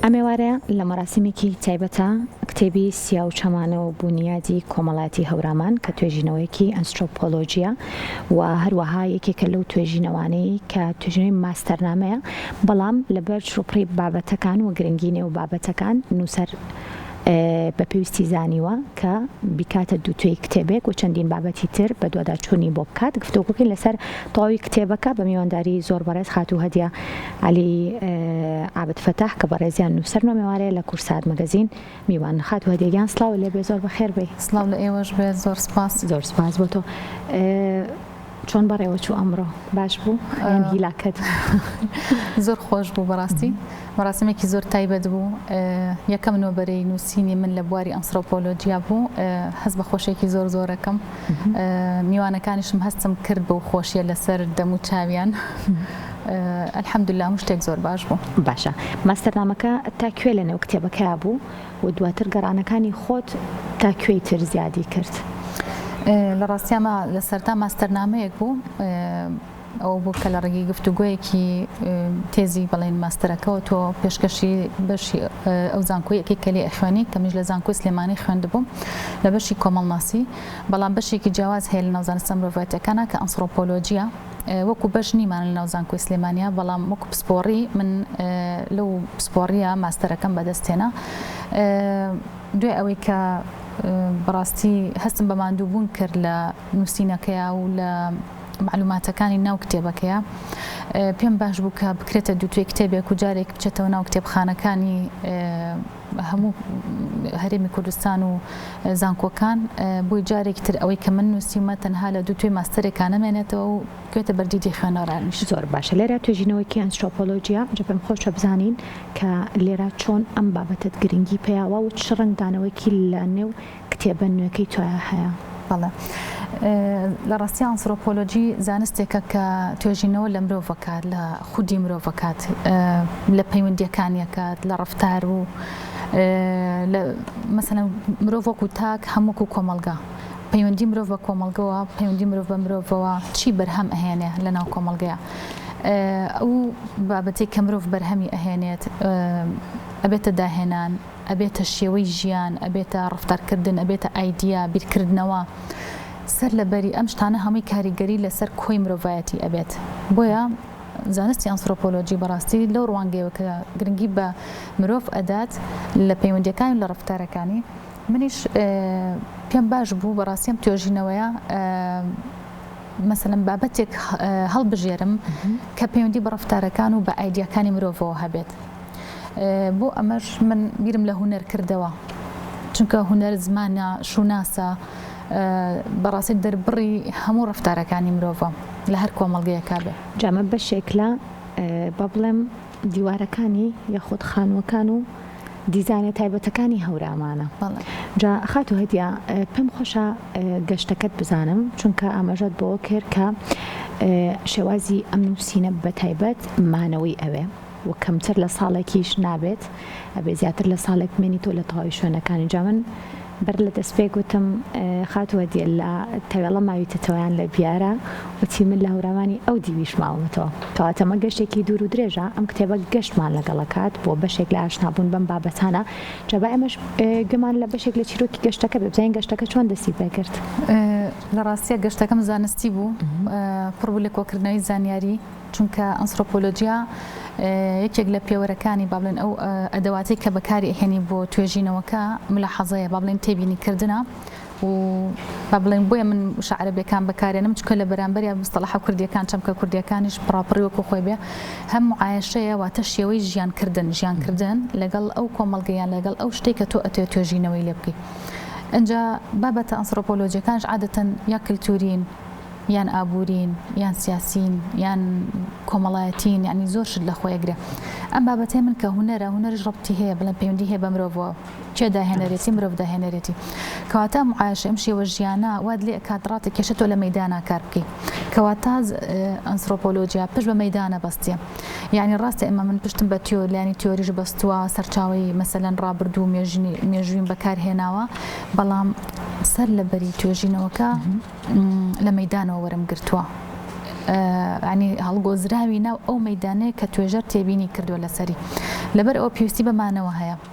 ئەم ئێوارە لە مەراسیمێکی تایبەتە کتێبی سیاو چەمانە و بونیادی کۆمەڵایەتی هەورامان کە توێژینەوەیەکی ئەنسرۆپۆلۆژیە و هەروەها یەکێکە لەو توێژینەوانەی کە توێژینەوەی ماستەرنامەیە بەڵام لەبەر چڕوپڕی بابەتەکان و گرنگی نێو بابەتەکان نووسەر بە پێویستی زانیوە کە بیکاتە دووتوێی کتێبێک و چەندین بابەتی تر بە دواداچوونی بۆ بکات گفتوگۆکەی لەسەر تەواوی کتێبەکە بە میوانداری زۆر بەڕێز خاتوو هەدیە عەلی عابد فەتاح کە بەڕێزیان نووسەر نۆمێوارەیە لە کورسات مەگەزین میوانن خاتوو هەدیە گیان سڵاوو لێ بێ زۆر بەخێر بێی. سڵاو لە ئێوەش بێت زۆر سپاس. زۆر سپاس بۆ تۆ. چۆن بەڕێوە چوو ئەمڕۆ باش بوو یان هیلاکت زۆر خۆش بوو بەڕاستی مەڕاستمێکی زۆر تایبەت بوو یەکەم نۆبەرەی نووسینی من لە بواری ئەنسرۆپۆلۆجییا بوو هەست بە خۆشێکی زۆر زۆرەکەم میوانەکانیشم هەستم کرد بەو خۆشیە لەسەر دەم و چاویان الحمدللە هەموو شتێک زۆر باش بوو. باشە ماستەرنامەکە تا کوێ لە نێو کتێبەکەیا بوو و دواتر گەڕانەکانی خۆت تا کوێی تر زیادی کرد؟ لە ڕاستی ئەمە لە سەرتا ماستەرنامەیەک بوو ئەوە بوو کە لە ڕێگەی گفتوگۆیەکی تێزی بەڵێن ماستەرەکەەوە تۆ پێشکەشی بەشی ئەو زانکۆیەکی کە لێ ئەخوێنی کە میش لە زانکۆی سلێمانی خوێندبووم لە بەشی کۆمەڵناسی بەڵام بەشێکی جیاواز هەیە لە ناوزانستە مرۆڤایەتەکانە کە ئەنسرۆپۆلۆجیە وەکو بەش نیمان لە ناو زانکۆی سلێمانیا بەڵام وەکو پسپۆڕی من لەو پسپۆڕیە ماستەرەکەم بەدەست هێنا دوای ئەوەی کە بەڕاستی هەستم بە ماندووبوون کرد لە نووسینەکەیا و لە معلوماتەکانی ناو کتێبەکەیە پێم باش بوو کە بکرێتە دووتێ کتێبێک و جارێک بچێتەوە ناو کتێبخانەکانی هەموو هەرێمی کوردستان و زانکۆکان بۆی جارێکی تر ئەوەی کە من نووسیومە تەنها لە دوو توێ ماستەرێکا نەمێنێتەوە و بکوێتە بەردیدی خوێنەرانیش زۆر باشە لێرە توێژینەوەکی ئەنسرۆپۆلۆژیا جا پێم خۆشە بزانین کە لێرە چۆن ئەم بابەتەت گرنگی پێیاوە و چ ڕەنگدانەوەیەکی لە نێو کتێبە نوێکەی تۆیا هەیە؟ بەڵێ. لە ڕاستیا ئانسرۆپۆلۆجی زانستێکە کە توێژینەوە لە مرۆڤ ئەکات، لە خودی مرۆڤ ئەکات، لە پەیوەندییەکانی ئەکات، لە ڕەفتار و مەسەلەن مرۆڤ وەکو تاک هەم وەکو کۆمەڵگا پەیوەندی مرۆڤ بە کۆمەڵگەوە، پەیوەندی مرۆڤ بە مرۆڤەوە چی بەرهەم ئەهێنێ لەناو کۆمەڵگەیە. ئەو بابەتەی کە مرۆڤ بەرهەمی ئەهێنێت ئەبێتە داهێنان، ئەبێتە شێوەی ژیان، ئەبێتە ڕەفتارکردن، ئەبێتە ئایدیا، بیرکردنەوە، سەر لەبەری ئەم شتانە هەمووی کاریگەری لەسەر کۆی مرۆڤایەتی ئەبێت. بۆیە زانستی ئەنسرۆپۆلۆجی بەڕاستی لەو ڕوانگەیەوە کە گرنگی بە مرۆڤ ئەدات لە پەیوەندییەکانی و لە ڕەفتارەکانی، منیش پێم باش بوو بەڕاستی ئەم توێژینەوەیە مەسەلەن بابەتێک هەڵبژێرم کە پەیوەندی بە ڕەفتارەکان و بە ئایدیاکانی مرۆڤەوە هەبێت. بۆ ئەمەش من بیرم لە هونەر کردەوە چونکە هونەر زمانە شوناسە بەڕاستی دەربڕی هەموو ڕفتارەکانی مرۆڤە لە هەر کۆمەڵگەیەکە بێ جامە بەشێک لە با بڵێم دیوارەکانی یاخود خانووەکان و دیزانە تایبەتەکانی هەورامانە جا خات و هەدیە پێم خۆشە گەشتەکەت بزانم چونکە ئاماژەت بۆ کرد کە شێوازی ئەم نووسینە بە تایبەت مانەوەی ئەوێ و کەمتر لە ساڵێکیش نابێت ئەبێ زیاتر لە ساڵێک بمێنیتەوە لە تەواوی شوێنەکانی جا من بەر لە دەست پێک وتم خاتو هەدیە لە تەوێڵە ماویتەتەوە یان لە بیارە وتی من لە هەوراوانی ئەو دیویش ماومەتەوە کەواتەمە گەشتێکی دوور و درێژە ئەم کتێبە گەشتمان لەگەڵەکات بۆ بەشێک لە ئاشنابوون بەم بابەتانە جەبا ئەمەش گوێمان لە بەشێک لە چیرۆکی گەشتەکە بێ بزانین گەشتەکە چۆن دەستی پێکرد لە ڕاستیە گەشتەکەم زانستی بوو پڕبوو لە کۆکردنەوەی زانیاری چونکە ئەنسرۆپۆلۆجیا یەکێک لە پێوەرەکانی با بڵێن ئەو ئەدەواتەی کە بەکاری ئەهێنی بۆ توێژینەوەکە ملاحەزەیە با بڵێن تێبینی کردنە و با بڵێن بۆیە من وشە عەرەبیەکان بەکارێنم چکە لە بەرامبەریا مستەڵەحە کوردیەکان چەمکە کوردیەکانیش پڕاپڕی وەکو خۆی بێ هەم معایشەیە واتە شێوەی ژیان کردن ژیان کردن لەگەڵ ئەو کۆمەڵگەیان لەگەڵ ئەو شتێک کە تۆ ئەتێ توێژینەوەی لێ بکەیت. ئەجا بابەتە ئەنسرۆپۆلۆجیەکانش عادەتەن یا کلتورین یان ئابوورین یان سیاسین یان کۆمەڵایەتین یعنی زۆر شت لە خۆیەگرێ ئەم بابەتەی من کە هوەرە هوەرش ڕبتی هەیە بڵێ پەیوەندی هەیە بە مرۆڤەوە چێ داهێنەرێتی مرۆڤ داهێنەرێتی کەواتە معاش ئەم شێوە ژیانە واد لێ کاتڕاتی کێشە تۆ لە مەدانا کار بکەیت کەواتە ئەنسۆپۆلۆژیا پشت بە مەدانە بەستە یەعنی ڕاستە ئێمە من پشتم بە تیۆر لانی تیۆریش بەستووە سەرچاوەی مەسەلەن ڕابردوو و مێژینی مێژوویم بەکار هێناوە بەڵام سەر لە بەری توێژینەوەکە لە مەدانەوە وەرم گرتووە عنی هەڵگۆزراوی ناو ئەو مەدانەیە کە توێژەر تێبینی کردووە لەسەری لەبەر ئەوە پێویستی بە مانەوە هەیە.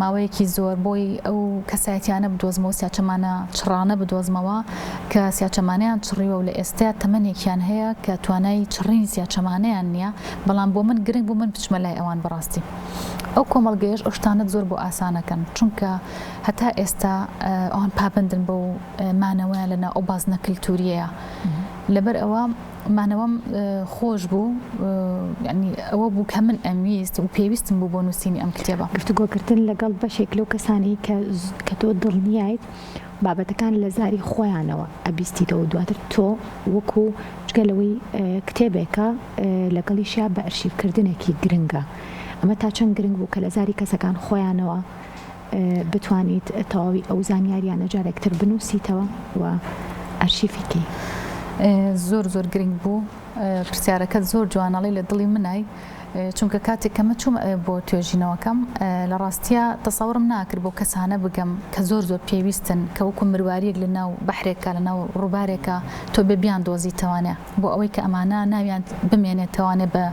ماوەیەکی زۆر بۆی ئەو کەسایەتیانە بدۆزمەوە سیاچەمانە چڕانە بدۆزمەوە کە سیاچەمانیان چڕیوە و لە ئێستا تەمەنێکیان هەیە کە توانای چڕینی سیاچەمانیان نییە بەڵام بۆ من گرنگ بوو من بچمە لای ئەوان بەڕاستی ئەو کۆمەڵگەیش ئەو شتانت زۆر بۆ ئاسانەکەن چونکە هەتا ئێستا ئەوان پابندن بەو مانەوەیان لەنا ئەو بازنە کللتوریەیە لەبەر ئەوە مانەوەم خۆش بوو یعنی ئەوە بوو کە من ئەمویست و پێویستم بوو بۆ نووسینی ئەم کتێبە گفتوگۆکردن لەگەڵ بەشێک لەو کەسانەی کە کە تۆ دڵنیایت بابەتەکان لە زاری خۆیانەوە ئەبیستیتەوە دواتر تۆ وەکو جگە لەوەی کتێبێکە لەگەڵیشیا بە ئەرشیفکردنێکی گرنگە ئەمە تا چەند گرنگ بوو کە لە زاری کەسەکان خۆیانەوە بتوانیت تەواوی ئەو زانیاریانە جارێک تر بنووسیتەوە و ئەرشیفی کەی. زۆر زۆر گرنگ بوو پرسیارەکە زۆر جوانەڵی لە دڵی منای چونکە کاتێک کەمە چوم بۆ توێژینەوەکەم لە ڕاستە تەسەورم ناکرد بۆ کەسانە بگەم کە زۆر زۆر پێویستن کە وەکو مرواریەک لە ناو بەحرێکە لە ناو ڕووبارێکە تۆ بە بیان دۆزیتوانێ بۆ ئەوەی کە ئەمانە ناویان بمێنێتوانێ بە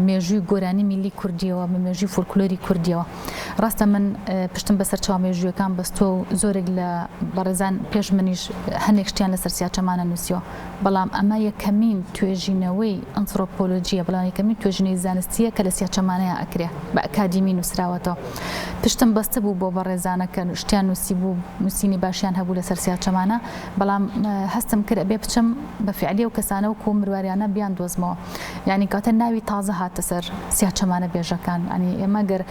مێژووی گۆرانی میلی کوردیەوە بە مێژوی فولکلۆری کوردیەوە. ڕاستە من پشتم بە سەرچاوە مێژوویەکان بەستووە و زۆرێک لە بەڕێزان پێش منیش هەندێک شتیان لە سەرسیاچەمانە نووسیوە بەڵام ئەمە یەکەمین توێژینەوەی ئەنسرۆپۆلۆژیە بەڵام یەکەمین توێژینەی زانستیە کە لە سیاچەمانەیە ئەکرێ بە ئەکادیمی نووسراوەتەوە پشتم بەستە بوو بۆ بەڕێزانە کە شتیان نووسی بوو نووسینی باشیان هەبوو لە سەرسیاچەمانە بەڵام هەستم کرد بێ بچم بە فعلی و کەسانە و کۆ مرواریانە بیان دۆزمەوە یانی کاتێ ناوی تازە هاتە سەر سیاچەمانە بێژەکان ئەنی ئێمە گەر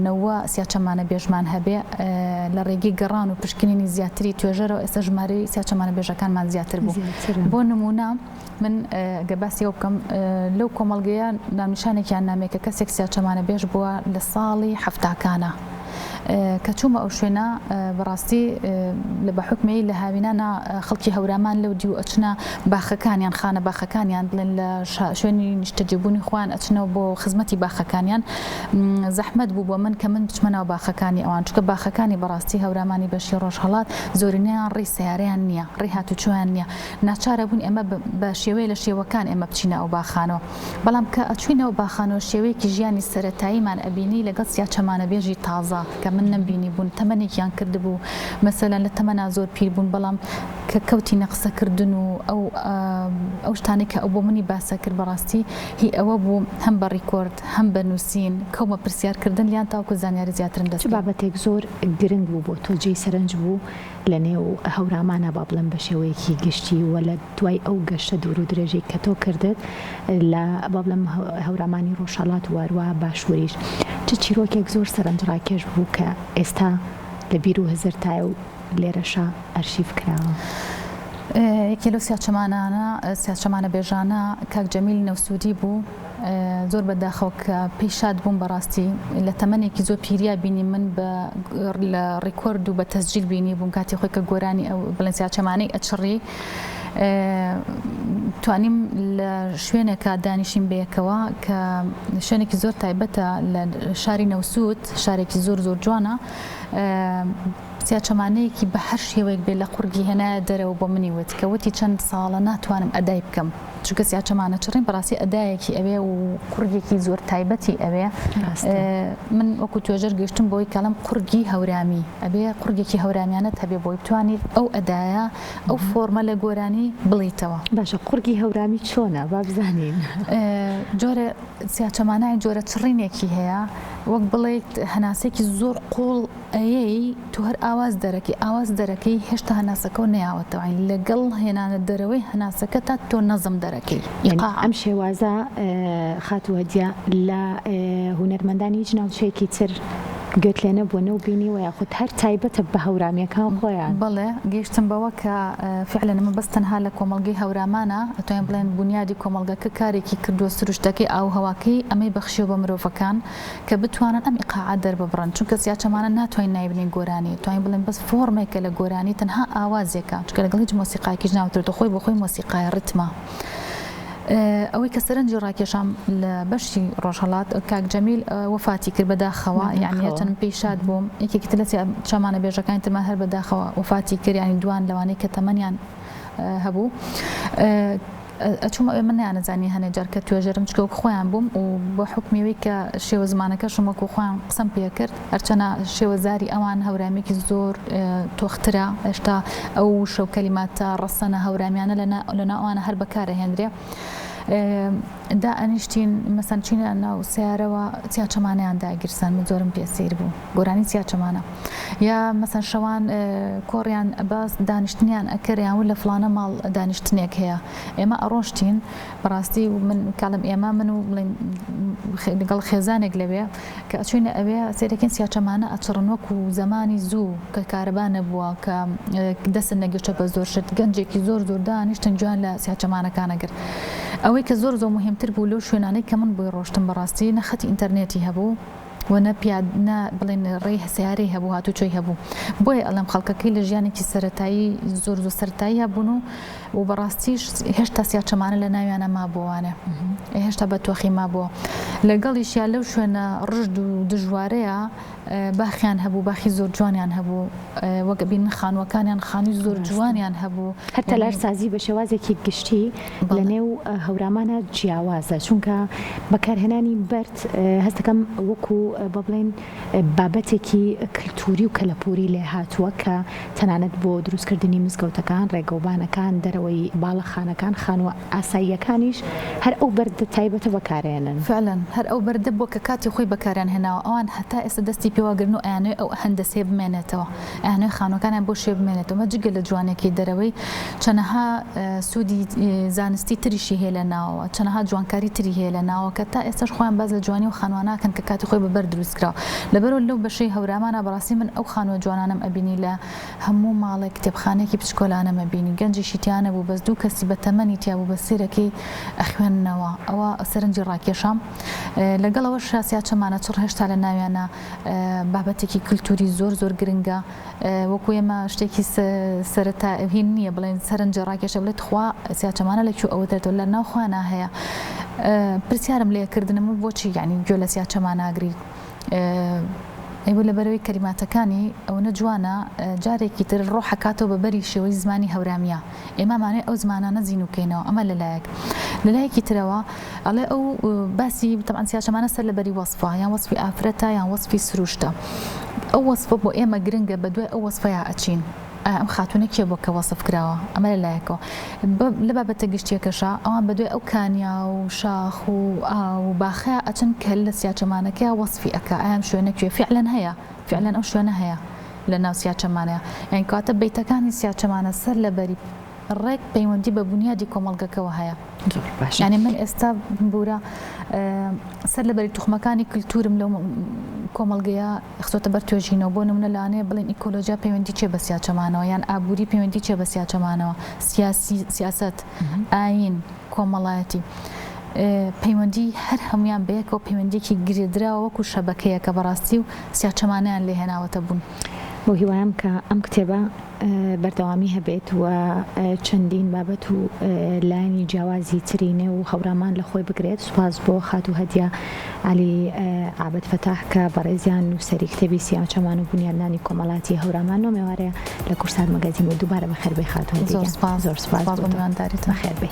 نەوە سیاچەمانە بێژمان هەبێ لە ڕێگەی گەڕان و پشکنینی زیاتری توێژەرەوە ئێستا ژماری سیاچەمانە بێژەکانمان زیاتر بوو بۆ نمونە من گە باسی ئەو بکەم لەو کۆمەلگەیە نامیشانێکیان نامێکە کەسێک سیاچەمانە بێژ بووە لە ساڵی هەفتاکانە. کە چوومە ئەو شوێنە بەڕاستی لە بە حکمەی لە هاوینانە خەڵکی هەورامان لەو دیو ئەچنە باخەکانیان خانە باخەکانیان بڵێن لە شوێنی نیشتەجێبوونی خوان ئەچنەوە بۆ خزمەتی باخەکانیان زەحمەت بوو بۆ من کە من بچمەناو باخەکانی ئەوان چکە باخەکانی بەڕاستی هەورامانی بەشی ڕۆژهڵات زۆرینەیان ڕێی سیارەیان نییە ڕێ هاتوچۆیان نییە ناچارە بوون ئێمە بە شێوەیە لە شێوەکان ئێمە بچینە ئەو باخانەوە بەڵام کە ئەچووی ناو باخانەوە شێوەیەکی ژیانی سەرەتاییمان ئەبینی لەگەڵ سیاچەمانەبێژی تازە کە من نەمبینیبوون تەمەنێکیان کردبوو مەسەلەن لە تەمەنا زۆر پیر بوون بەڵام کە کەوتینە قسەکردن و ئەو ئەو شتانەی کە ئەو بۆ منی باسەکرد بەڕاستی هی ئەوە بوو هەم بە ڕیکۆرد هەم بە نووسین کەومە پرسیارکردن لیان تاوکو زانیاری زیاترم دەست چ بابەتێک زۆر گرنگ بوو بۆ تۆ جێی سەرنج بوو؟ لە نێو هەورامانا با بڵێم بە شێوەیەکی گشتی و لە دوای ئەو گەشتە دوور و درێژەی کە تۆ کردت لە با بڵێم هەورامانی ڕۆژهەڵات و هەروەها باشووریش چ چیرۆکێک زۆر سەرنجڕاکێش بوو کە ئێستا لە بیر و هزرتایە و لێرەشا ئەرشیف کراوە؟ یەکێ لەو سیاچەمانانە، سیاچەمانە بێژانە کاک جەمیل نەوسوودی بوو، زۆر بە داخەوە کە پێی شاد بووم بەڕاستی لە تەمەنێکی زۆر پیریا بینی من بە لە ڕیکۆرد و بە تەسجیل بینی بووم کاتی خۆی کە گۆرانی ئەو بڵێنسیا چەمانەی ئەچڕی توانیم لە شوێنێکە دانیشیم بەیەکەوە کە شوێنێکی زۆر تایبەتە لە شاری نەوسود شارێکی زۆر زۆر جوانە سیا چەمانەیەکی بە هەر شێوەیەک بێ لە قورگی هێنایە دەرەوە بۆ منی وت کە وتی چەند ساڵە ناتوانم ئەدای بکەم چونکە سیا چەمانە چڕین بەڕاستی ئەدایەکی ئەوێ و قوڕگێکی زۆر تایبەتی ئەوێ من وەکو توێژەر گەشتم بۆی کەڵم قوڕگی هەورامی ئەبێ قوڕگێکی هەورامیانە هەبێ بۆی بتوانیت ئەو ئەدایە ئەو فۆرمە لە گۆرانی بڵیتەوە باشە قوڕگی هەورامی چۆنە با بزانین جۆرە سیاچەمانای جۆرە چڕینێکی هەیە وەک بڵیت هەناسێکی زۆر قوڵ ئەیەی تۆ هەر ئاواز دەرەکەی ئاواز دەرەکەی هێشتا هەناسەکەو نەیاوەتەوە یانی لەگەڵ هێنانە دەرەوەی هەناسەکەتا تۆ نەزم دەرەکەی ئیقاع. ئەم شێوازە خاتوو هەدیە لە هونەرمەندانی هیچ ناوچەیەکی تر گوێت لێ نەبووە نەو بینیوە یاخود هەر تایبەتە بە هەورامیەکان خۆیان؟ بەڵێ گەیشتم بەوە کە فعلەن ئەمە بەس تەنها لە کۆمەڵگەی هەورامانە ئەتوانین بڵێن بونیادی کۆمەڵگەکە کارێکی کردووە سروشتەکەی ئاووهەواکەی ئەمەی بەخشیوە بە مرۆڤەکان کە بتوانن ئەم ئیقاعە دەرببڕن چونکە سیاچەمانە ناتوانین ناوی بنێین گۆرانی توانین بڵێین بەس فۆرمێکە لە گۆرانی تەنها ئاوازێکە چونکە لەگەڵ هیچ مۆسیقایەکیش ناوترێتەوە خۆی بۆخۆی مۆسیقایە ڕیتمە ئەوەی کە سەرنجی ڕاکێشام لە بەشی ڕۆژهەڵات کاک جەمیل وفاتی کرد بەداخەوە یعنی هەچەند پێی شاد بووم یەکێکی تر لە چامانە بێژەکانی ترمان هەر بەداخەوە وفاتی کرد یعنی دوان لەوانەی کە تەمەنیان هەبوو ئەچوم ئەوێ من نەیانەزانی هەنێ جار کە توێژەرم چکە وەک خۆیان بوم و بە حوکمی ئەوەی کە شێوە زمانەکەشم وەکو خۆیان قسەم پێ کرد هەرچەنە شێوە زاری ئەوان هەورامیکی زۆر تۆخ ترە ئێشتا ئەو وشە و کەلیماتە ڕەسەنە هەورامیانە لەنا لەنا ئەوانە هەر بەکارە هێندرێ دا ئەنیشتین مەسەن چینە ناو سیارەوە چیا چەمانیان داگیرسان من زۆرم پێ سیر بوو. گۆرانی چیا چەمانە یا مەسەن شەوان کۆڕیان باس دانیشتنیان ئەکرد یان لە فلانە ماڵ دانیشتنێک هەیە ئێمە ئەڕۆشتین بەڕاستی من کاڵم ئێمە من و لەگەڵ خێزانێک لەوێ کە ئەچوینە ئەوێ سێرەکەین سیا چەمانە ئەچڕن وەکو زمانی زوو کە کارەبا نەبووە کە دەست نەگەشتە بە زۆر شت گەنجێکی زۆر زۆر دانیشتن جوان لە سیا چەمانەکانەگر ئەوەی کە زۆر زۆر مهمتر بوو لەو شوێنانەی کە من بۆی ڕۆشتم بەڕاستی نەخەتی ئینتەرنێتی هەبوو و نە پیاد نە بڵێن ڕێی سەیارەی هەبوو هاتوچۆی هەبوو بۆیە ئەڵێم خەڵکەکەی لە ژیانێکی سەرەتایی زۆر زۆر سەرتاییە بوون و و بەڕاستیش هێشتا سیاچەمانە لە ناویانە مابووانێ هێشتا بە تۆخی مابووە لەگەڵیش یا لەو شوێنە ڕژد و دژوارەیە باخیان هەبوو باخی زۆر جوانیان هەبوو وەگە بین خانوەکانیان خانووی زۆر جوانیان هەبوو هەر تەلارسازی بە شێوازێکی گشتی لە نێو هەورامانە جیاوازە چونکە بەکارهێنانی بەرد هەست دەکەم وەکو با بڵێین بابەتێکی کلتوری و کەلەپوری لێ هاتووە کە تەنانەت بۆ دروست کردنی مزگەوتەکان، ڕێگەوبانەکان، دەرەوەی باڵەخانەکان، خانووە ئاساییەکانیش هەر ئەو بەردە تایبەتە بەکارێنن. فعلا هەر ئەو بەردە بووە کە کاتی خۆی بەکاریان هێناوە، ئەوان هەتا ئێستا دەستی پێ واگرن و ئەیانەوێ ئەو هەندەسەیە بمێنێتەوە. ئەیانەوێت خانووەکانیان بۆ شێ بمێنێتەوە، ئەمە جگە لە جوانییەکەی دەرەوەی، چەنەها سوودی زانستی تریشی هەیە لە ناوەوە، چەنەها جوانکاری تری هەیە لە ناوە کە تا ئێستاش خۆیان باس لە جوانی ئەو خانووە ناکەن کە کاتی خۆی بە بەرد دروست کراوە. لەبەرئەوە لەو بەشەی هەورامانا بەڕاستی من ئەو خانووە جوانانەم ئەبینی لە هەموو ماڵێک کتێبخانەیەکی بچکۆلانەم ئەبینی گەنجیشی تیا نەبوو بەس دوو کەسی بە تەمەنی تیا بوو بە سێرەکەی ئەخوێننەوە ئەوە سەرنجی ڕاکێشام لەگەڵ ئەوەشا سیاچەمانە چڕ هێشتا لە ناویانە بابەتێکی کلتوری زۆر زۆر گرنگە وەکو ئێمە شتێکی سەرتا هین نییە بڵێن سەرنجە ڕاکێشە بڵێت تخوا سیاچەمانە لە کوێ ئەوە دەرێتەوە لە ناوخوانا هەیە پرسیارم لێکردنم و بۆچی یعنی گوێ لە سیاچەما ناگری ئەیوە لە بەرەوەی کەریماتەکانی ئەوەنە جوانە جارێکی تر ڕۆحەکاتەوە بە بەری شێوەی زمانی هەورامیە ئێمە ئەمانەی ئەو زمانانە زینوو بکەینەوە ئەمە لە لایەک لە لایەکی ترەوە ئەڵێ ئەو باسی تەمان سیاچەمانە سەر لە بەری وەسفە یان وەسفی ئافرەتە یان وەسفی سروشتە ئەو وەسفە بۆ ئێمە گرنگە بە دوای ئەو وەسفەیە ئەچین ئەم خاتونە کێ بۆ کە وەسف کراوە ئەمە لە لایەکەوە لە بابەتە گشتیەکەشە ئەوان بە دوای ئەو کانیا و شاخ و ئا و باخەیە ئەچن کە لە سیاچەمانەکەی وەسفی ئەکە ئەم شوێنە کوێ فعلەن هەیە فعلەن ئەو شوێنە هەیە لە ناو سیاچەمانەیە یانی کەواتە بەیتەکانی سیاچەمانە سەر لە بەری ڕێک پەیوەندی بە بونیادی کۆمەڵگەکەوە هەیە یانی من ئێستا بورە سەر لە بەری توخمەکانی کللتورم لەو کۆمەلگەیە خسۆتە بەر توێژینەوە بۆ نمونە لەانەیە بڵین ئیکۆلۆژیا پەیوەندی چێ بە سیاچەمانەوە یان ئابووری پەیوەندی چێ بە سیاچەمانەوە سیاسی سیاست ئاین کۆمەڵایەتی پەیوەندی هەر هەموان بەیەکەوە پەیوەندیەکی گرێدراوە وەکو شەبەکەیەکە بەڕاستی و سیاچەمانەیان لێ هێناوەتە بوون. بە هیوام کە ئەم کتێبە بەردەوامی هەبێت و چەندین بابەت و لایەنی جیاوازی تری نێو هەورامان لە خۆی بگرێت، سوپاس بۆ خاتوو هەدیە عەلی عابد فەتاح کە بەڕێزیان نووسەری کتێبی سیاچەمان و بونیادنانی کۆمەڵایەتی هەورامان ئەو مێوارەیە لە کورسات مەگەزین بوو، دووبارە بەخێربێی خاتوو هەدیە گیان. زۆر سوپاس بۆ میوانداریتان. بەخێربێی.